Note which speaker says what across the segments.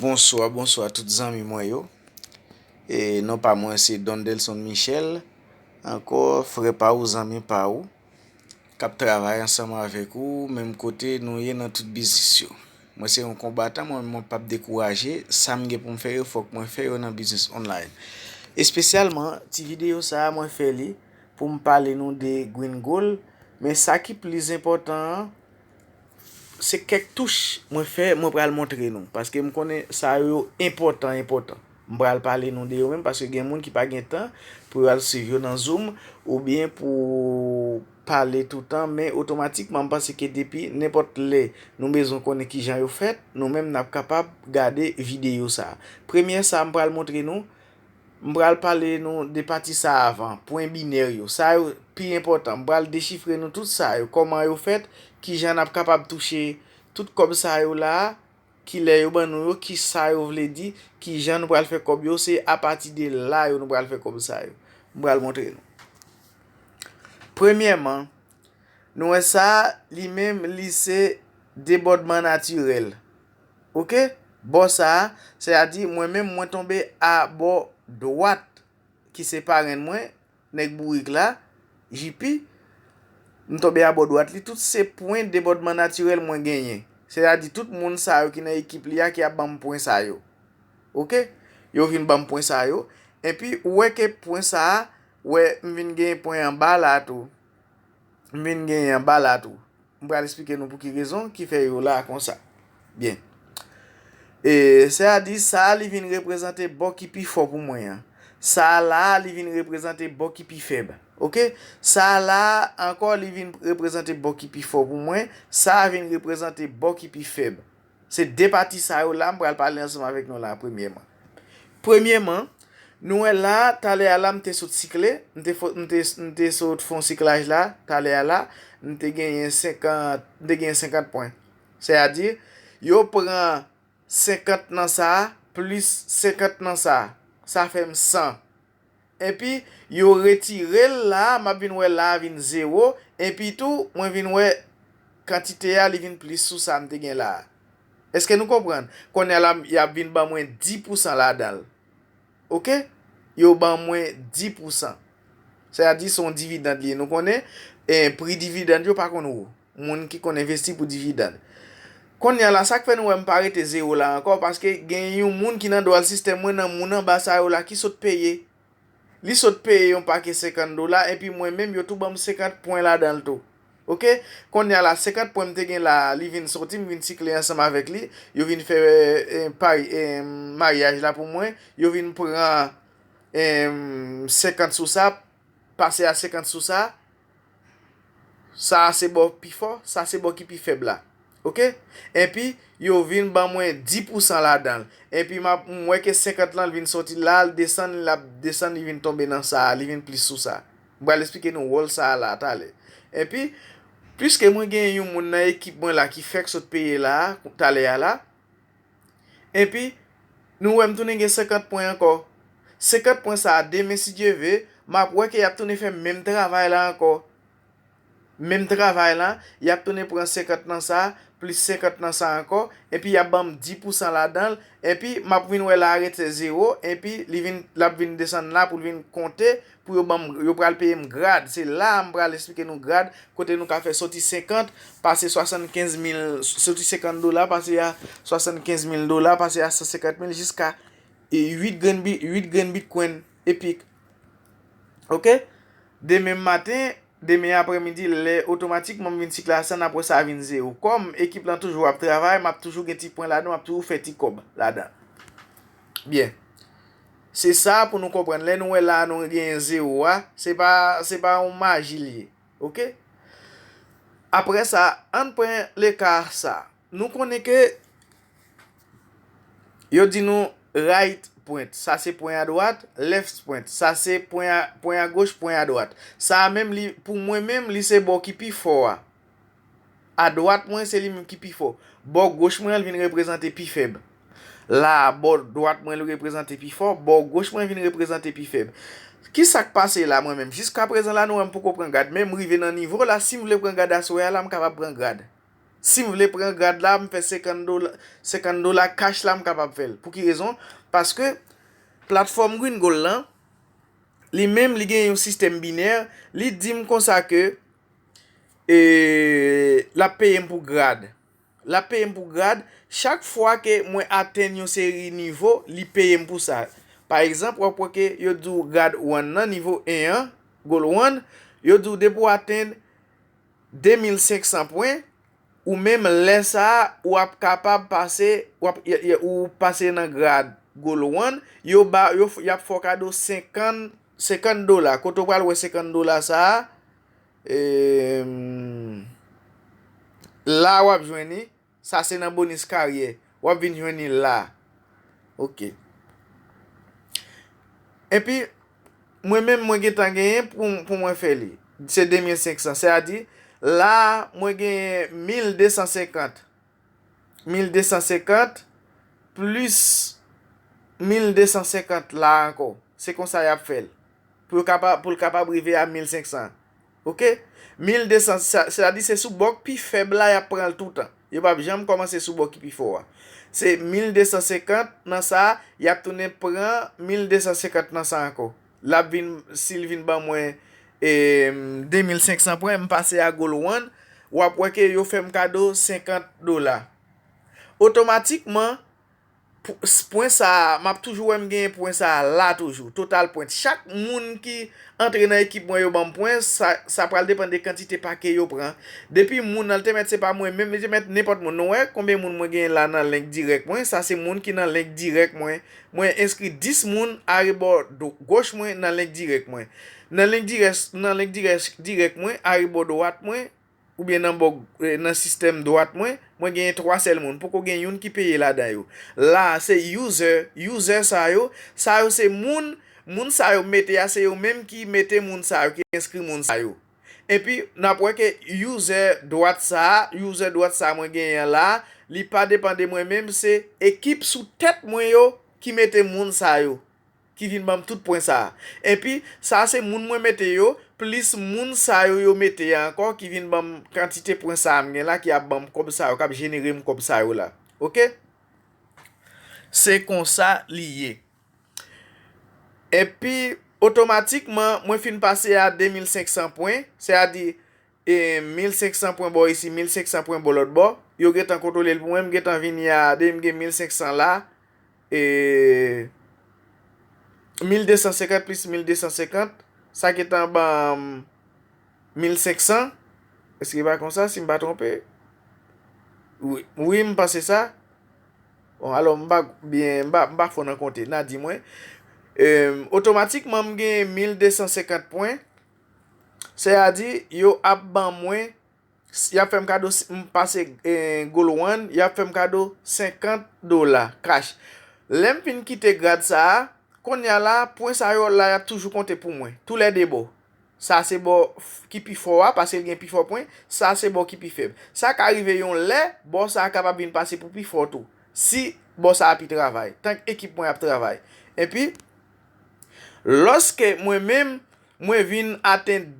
Speaker 1: Bonswa bonswa tout zanmi mwen yo e non pa mwen se Dondelson Michel ankò frè pa ou zanmi pa ou kap travay ansanm avèk ou menm kote nou ye nan tout biznis yo mwen se yon konbatan mwen mwen pap dekouraje sa m gen pou m fè yo fòk mwen fè yo nan biznis online espesyalman ti videyo sa a mwen fè li pou m pale nou de Green Gold men sa ki plis enpòtan an Se kèk touch mwen fè mwen pral montre nou paske m konnen sa yo yo enpòtan enpòtan m pral pale nou de yo menm paske gen moun ki pa gen tan pou yo al swiv yo nan zoom oubyen pou pale toutan men otomatikman m panse ke depi nenpòt lè nou bezwen konnen kijan yo fèt nou menm n ap kapab gade videyo sa premye sa m pral montre nou M pral pale nou de pati sa a avan, pwen binè yo. Sa yo pi enpòtan. M pral dechifre nou tout sa yo, kòman yo fèt, ki jan n ap kapab touche tout kòb sa yo la a, ki lè yo ban nou yo, ki sa yo vle di, ki jan nou pral fè kòb yo. Se apati de la yo nou pral fè kòb sa yo. M pral montre nou. Premyèman, nou wè sa a, li menm li se debòdman natirèl. Ok bò sa a, sè a di mwen menm mwen tonbe a bò dwat ki se parenn mwen, nèg bourik la, JP, m tonbe a bò dwat li, tout se pwen debòdman natirèl mwen genyen. Sè a di tout moun sa yo ki nan ekip li a ki ap ban m pwen sa yo. Ok, yo vin ban m pwen sa yo, enpi ou wè ke pwen sa a, wè m vin gen pwen anba la a tou, M vin genyen anba la tou. M pral esplike nou pou ki rezon ki fè yo la konsa. Byen. E sè a di, Sa a li vin reprezante bò ki pi fò pou mwen an. Sa a la a li vin reprezante bò ki pi fèb. Ok? Sa a la a ankò li vin reprezante bò ki pi fò pou mwen. Sa a vin reprezante bò ki pi fèb. Se de pati sa yo la m pral pale ansanm avèk nou la a premyèman. Premyèman, nou wè la a, talè a la m te sot sikle, m te fon, m te, m te sot fè yon siklaj la, talè a la, m te genyen senkant, m te genyen senkant pwen. Sèyadi, yo pran senkant nan sa a, plis senkant nan sa a. Sa fè m san. Epi yo retire l la a, m ap vin wè la a vin zewo, epi tou, mwen vin wè kantite a li vin plis sou sa m te gen la a. Èske nou konprann? Kounye a la, y ap vin ban mwen di pousan ladan l. Oke? Yo ban mwen di pousan. Sètadi se yon dividand li ye. Nou konnen pri dividand yo pa konn wo. moun ki konn envesti pou dividend. Konnya la sak fè nou wèm pa rete zero la ankò paske gen yon moun ki nan dwal sistèm mwen nan moun anba sa yo la ki sot peye li sot peye yon pake 50 dola epi mwen menm yo tou banm 50 pwen ladanl tou ok konnya la 50 pwen mte gen la li vin soti m vin sikle ansanm avèk li yo vin fè pari maryaj la pou mwen yo vin pran 50 sou sa Pase a 50 sou sa a. Sa a se bò pi fò, sa se bò ki pi fèb la. Ok. Enpi, yo vin ban mwen 10 pousan ladan l. Enpi, m ap, m wè ke 50 lan l vin sòti la a, l desann, l ap desann, li vin tonbe nan sa a, li vin plis sou sa a. M pral esplike nou wòl sa a la a talè. Enpi, piske mwen gen yon moun nan ekip mwen la ki fèk sot peye la a, talè a la, Epi, nou wè m tounen gen 50 pwen ankò. 50 pwen sa a demen si Dye ve, m ap wè ke y ap tounen fè menm travay la ankò. Menm travay la, y ap tounen pran 50 nan sa, plis 50 nan sa ankò, epi y ap ban m di pou san ladan l, epi m ap vin wè la a rete zewo, epi li vin, l ap vin desann la pou l vin konte Pou yo banm yo pral peyem grad se la a m pral esplike nou grad kote nou ka fè soti 50 pase 75 mil soti 50 dola pase a 75 mil dola pase a 150 mil jiska 8 grenn bi 8 grenn bitcoin epic ok demen maten demen aprè midi lè otomatik mwen vin sikle a 100 aprè sa vin 0 kòm ekip lan toujou ap travay map toujou gen ti pwen ladan map toujou fè ti kòb ladan byen. Se sa pou nou konprann lè nou wè la a nou genyen zero a se pa se pa yon maji li ye ok. Aprè sa ann pran leka sa a nou konnen ke yo di nou right pwent sa se pwen a dwat left pwent sa se pwen a goch pwen a dwat sa a menm li pou mwen menm li se bò ki pi fò a. A dwat mwen, se li menm ki pi fò. Bò goch mwen an, li vin reprezante pi fèb. La, bò dwat mwen li reprezante pi fò, bò goch mwen vin reprezante pi fèb. Ki sa k pase la mwen menm? Jiska prezan la nou wè m poko pran grad, men m rive nan nivo la, si m vle pran grad aswè a la, m kapab pran grad. Si m vle pran grad la, m fè senkann dola, senkann dola kach la m kapab fè l. Pou ki rezon? Paske platfòm Green Gold lan, li menm li gen yon sistèm binè, li di m konsa ke, E lap peyem pou grad. Lap peyem pou grad. Chak fwa ke mwen atenn yon seri nivo, li peyem pou sa. Pa egzanp, wap wè ke yo di w grad 1 nan, nivo 1 an, goal 1, yo di w depi w atenn 2500 pwen, ou menm lè sa a, ou ap kapab pase, ou pase nan grad goal 1, yo ba, yap fè w kado 50 50 dola kote ou pral wè 50 dola sa la wap jwenn li sa se nan bonis karyè wap vin jwenn li la ok epi mwen menm mwen gentan genyen pou mwen fè li se 2500 se a di la mwen genyen 1250 1250 plis 1250 la ankò. Se konsa y ap fè l. Pou yo kapab, pou l kapab rive a 1500. Ok? 1200, se ta di se sou bò k pi fèb la y ap pran l toutan. Yo p ap janm kòmanse sou bò ki pi fò a. Se 1250 nan sa, y ap tounen pran 1250 nan sa ankò. Lap vin sil vin ban mwen 2500 pwen m pase a goal one wap wè ke yo fèm kado 50 dola otomatikman pwen sa map toujou wèm gen pwen sa la toujou total pwen chak moun ki antre nan ekip mwen yo banm pwen sa pral depan de kantite pake yo pran depi moun nan te mèt se pa mwen menm li te mèt nenpòt moun nou wè konbyen moun mwen gen la nan link dirèk mwen sa se moun ki nan link dirèk mwen Mwen enskri 10 moun arebò do goch mwen nan link dirèk mwen. Nan link dirèk nan link dirèk dirèk mwen arebò dowat mwen oubyen nan bò nan sistèm dwat mwen, mwen genyen 3 sèl moun, poko gen youn ki peye ladan yo. La a se user, user sa yo, sa yo se moun, moun sa yo mete a se yo menm ki mete moun sa yo, ki enskri moun sa yo. Epi nap wè ke user dwat sa a, user dwat sa a mwen genyen an la a, li pa depan de mwen menm se ekip sou tèt mwen yo ki mete moun sa yo ki vin banm tout pwen sa a. Epi sa se moun mwen mete yo plis moun sa yo yo mete a ankò ki vin banm kantite pwen sa a m gen la ki ap banm kòb sa yo kap jenere m kòb sa yo la ok. Se konsa li ye. Epi, otomatikman, mwen fin pase a 2500 pwen, se a di, 1500 pwen bò isi, 1500 pwen bò lòt bò, yo gen tan kontwole l pou mwen, m gen tan vini a, depi m gen 1500 la, 1250 plis 1250, sa gen tan ban m. 1500? Eske li pa konsa si m pa twonpe? Wi, wi m panse sa. Bon, alò m pa byen, m pa fò nan konte, n a di mwen, otomatikman m gen 1250 pwen, sè a di yo ap ban mwen, y ap fè m kado, si m pase Goal One, y ap fè m kado 50 dola kach. Lè m fin kite grad sa a, kounye a la, pwen sa yo la y ap toujou konte pou mwen, tou lè de bò. Sa se bò ki pi fò a, paske l gen pi fò pwen. Sa se bò ki pi fèb. Sa ka rive yon lè, bò sa a kapab vin pase pou pi fò tou, si bò sa a pi travay, tank ekip mwen ap travay. Enpi, lòske mwen menm, mwen vin atenn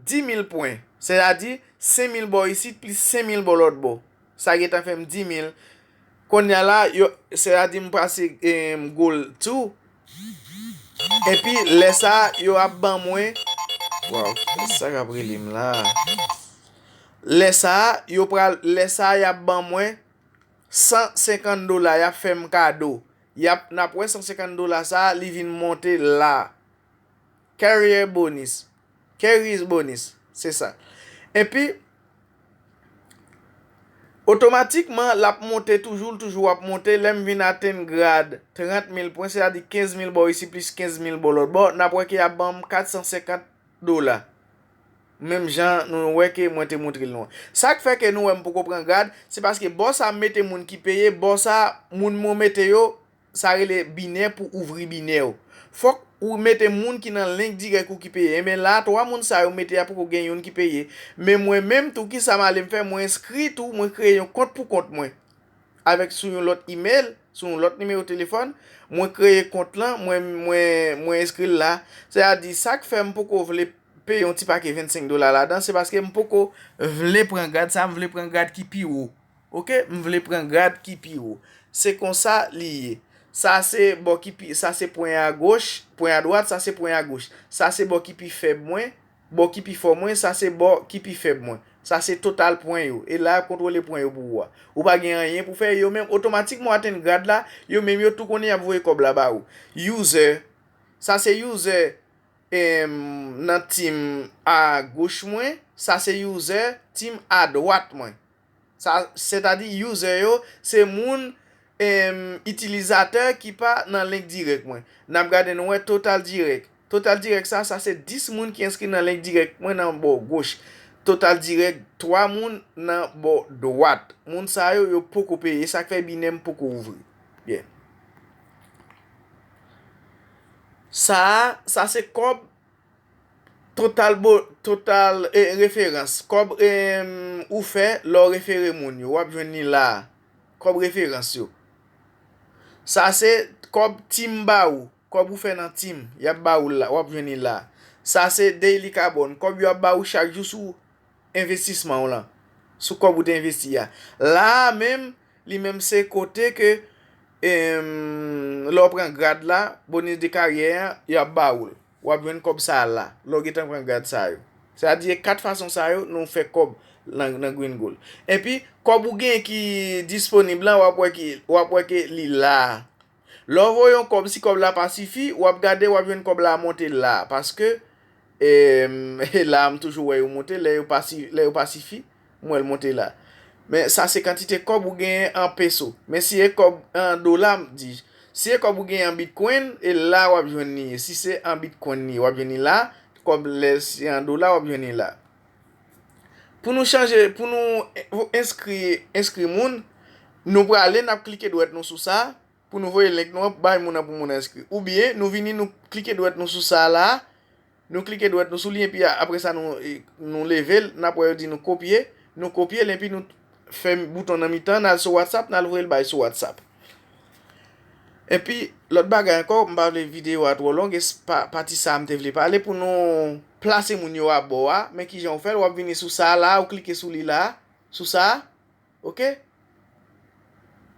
Speaker 1: 10,000 pwen, sètadi 5,000 bò isit plis 5,000 bò lòtbò, sa gentan fè m 10,000, Konnya la yo sè a di m pase m goal tou epi lè sa yo ap ban mwen waw kiyès sa kap rele m la lè sa yo pral lè sa yap ban mwen 150 dola yap fè m kado yap nap wè 150 dola sa li vin monte la. Carrier Bonis, Carries Bonis, se sa. Enpi, otomatikman, l ap monte toujou, l toujou ap monte. Lè m vin atenn grad 30 mil pwen, sètadi 15 mil bò isi plis 15 mil bò lòtbò, n ap wè ke y ap ban m 450 dola. Menm jan nou wè ke mwen te montre l nou an. Sa k fè ke nou wè m poko pran grad, se paske bò sa a m mete moun ki peye, bò sa a moun mwen mete yo, Sa rele binè pou ouvri binè ou. Fok ou mete moun ki nan link direk ou ki peye enben la 3 moun sa yo mete a poko gen youn ki peye men mwen menm tou kisa malem fè mwen enskri tou mwen kreye yon kont pou kont mwen avek sou yon lot email sou yon lot nimewo telefòn mwen kreye kont lan mwen mwen mwen enskril la se a di sak fè m poko vle peye yon ti pake 25 dola ladan se paske m poko vle pran grad sa m vle pran grad ki pi wo. Ok m vle pran grad ki pi wo. Se konsa li ye. Sa se bò ki pi, sa se pwen a goch, pwen a dwat, sa se pwen a goch. Sa se bò ki pi fèb mwen, bò ki pi fò mwen, sa se bò ki pi fèb mwen. Sa se total pwen yo. E la y ap kontwole pwen yo pou ou a. Ou pa gen anyen pou fè, yo menm otomatikman w atenn grad la, yo menm yo tou konnen y ap voye kòb la ba ou. User, Sa se user nan team a goch mwen, sa se user team a dwat mwen. Sa sètadi user yo se moun itilizatè ki pa nan link direct mwen. Nap gade nou wè total direct. Total direct sa sa se 10 moun ki enskri nan link direct mwen nan bò goch. Total direct 3 moun nan bò dwat. Moun sa yo yo poko peye sak fè binem poko ouvri. Byen. Sa sa se kòb Total referans, kòb ou fè lè w refere moun yo, w ap jwenn li la a, kòb referans yo. Sa se kòb tim ba ou, kòb ou fè nan tim, y ap ba ou l la, w ap jwenn li la a. Sa se daily carbon, kòb yo ap ba ou chak jou sou envestisman w lan, sou kòb ou te envesti a. La a menm, li menm se kote ke lè w pran grad la, bonus de carrière an, y ap ba ou l. Ou ap jwenn kòb sa a la, lè ou gentan pran gad sa yo. Se a di e 4 fason sa yo nou fè kòb nan Green Gold. Enpi, kòb ou gen ki disponib la, ou ap wè ki, ou ap wè ke li la. Lè ou voye yon kòb, si kòb la pa sifi, ou ap gade, ou ap jwenn kòb la monte la. Paske, e, la a m toujou wè yo monte lè yo pa, lè yo pa sifi. M wè l monte la. Men sa se kantite kòb ou genyen an peso. Men si e kòb an dola, di j. Si e kòb ou genyen an bitcoin, e la w ap jwenn li ye. Si se an bitcoin li ye, w ap jwenn li la. Kòb lè se an dola, w ap jwenn li la. Pou nou chanje, pou nou enskri moun, nou prale, n ap klike dwèt nou sou sa. Pou nou voye link nou an pou bay moun an pou moun enskri. Oubyen nou vini nou klike dwèt nou sou sa la, nou klike dwèt nou sou li enpi apre sa nou leve l, nap wè yo di nou kopye, nou kopye l enpi nou fè bouton nan mitan an nal sou whatsapp nal voye l bay sou whatsapp. Enpi lòt bagay ankò m pa vle videyo a twò long e se pa pati sa m te vle pale pou nou plase moun yo abò a, men kijan ou fè l wap vini sou sa la ou klike sou li la, sou sa. ok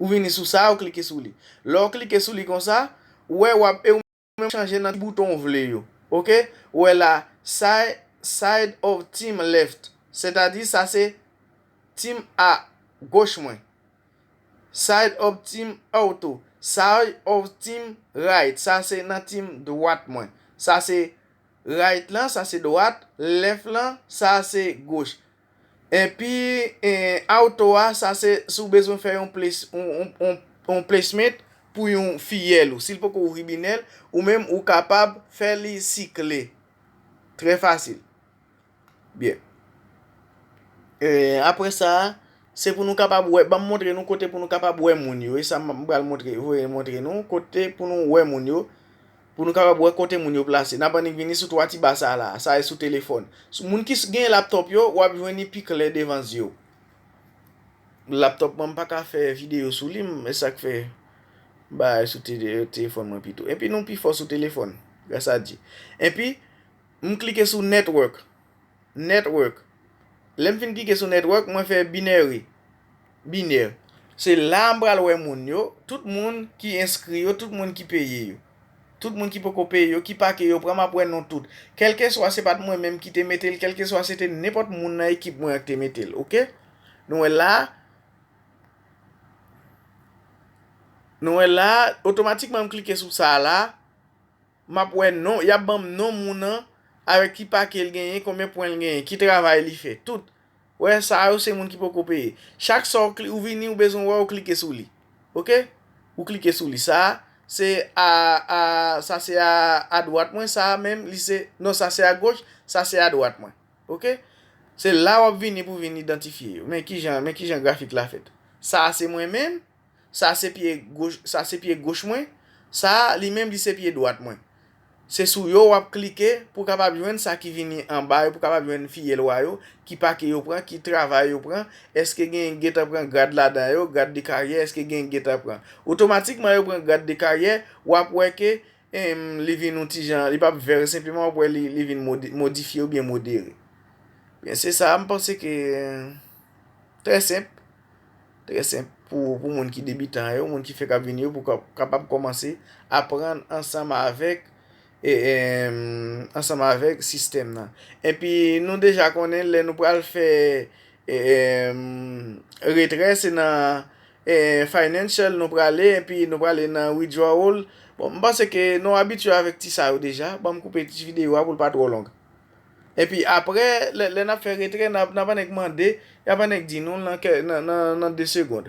Speaker 1: ou vini sou sa ou klike sou li lè ou klike sou li konsa ou wè wap e ou menm chanje nan ti bouton ou vle yo ok ou wè la sa e side of team left sètadi sa se team a goch mwen side of team auto side of team right sa se nan team dwat mwen sa se right lan sa se dwat left lan sa se goch Enpi auto a sa se si w bezwen fè yon yon placement pou yon filleul ou. Si l poko ouvri binè l, ou menm ou kapab fè li sikle. Trè fasil. Byen. Aprè sa, se pou nou kapab wè, banm montre nou kote pou nou kapab wè moun yo. E sa m pral montre, voye montre nou kote pou nou wè moun yo. Pou nou kapab wè kote moun yo plase, n ap annik vini sou twa ti ba sa a la a, sa e sou telefòn. Sou moun ki gen laptòp yo, w ap jwenn li pi klè devan zye w. Laptòp mwen m pa ka fè videyo sou li, e sa k fè m bay sou telefòn mwen pito. Enpi nou pi fò sou telefòn, gras a Dye. Enpi, m klike sou Network, Network. Lè m fin klike sou Network, mwen fè Binary, Binè. Se la a m pral wè moun yo, tout moun ki enskri yo, tout moun ki peye yo. Tout moun ki poko peye yo, ki pake yo pran, m ap wè non tout. Kèlkeswa se pa t mwen menm ki te mete l, kèlkeswa se te nenpòt moun nan ekip mwen an ki te mete l. Ok. Nou wè la a. Nou wè la a, otomatikman m klike sou sa a la a. Map wè non, yap banm non moun an avèk ki pake l genyen, konbyen pwen l genyen, ki travay li fè, tout. Wè sa yo se moun ki poko peye. Chak sa ou vini ou bezwen wè ou klike sou li. Ok. Ou klike sou li. Sa se a a sa se a a dwat mwen, sa a menm li se non sa se a goch, sa se a dwat mwen. Ok. Se la wap vini pou vin idantifye yo. Men kijan men kijan grafik la fèt. Sa se mwen menm. Sa se pye goch, sa se pye goch mwen, sa a li menm li se pye dwat mwen. Se sou yo w ap klike pou w kapab jwenn sa ki vini anba yo, pou w kapab jwenn Fiyelwa yo, ki pake yo pran, ki travay yo pran, èske genyen ki gentan pran grad ladan yo, grad de karyè, èske genyen ki gentan pran. Otomatikman yo pran grad de karyè, w ap wè ke em li vin yon ti jan, li pa p vèr senpleman, w ap wè li vin modi, modifye oubyen modere. Byen se sa a, m panse ke trè senp. Trè senp pou pou moun ki debitan yo, moun ki fèk ap vini yo pou kapab kòmanse aprann ansanm avèk ansanm avèk sistèm nan. Enpi nou deja konnen lè nou pral fè retrè se nan financial nou prale enpi nou prale nan withdrawal. Bon m panse ke nou abitye avèk ti sa yo deja, banm koupe ti videyo a pou l pa twò long. Epi aprè lè nap fè retrè nap annik mande yap annik di nou nan 2 segond.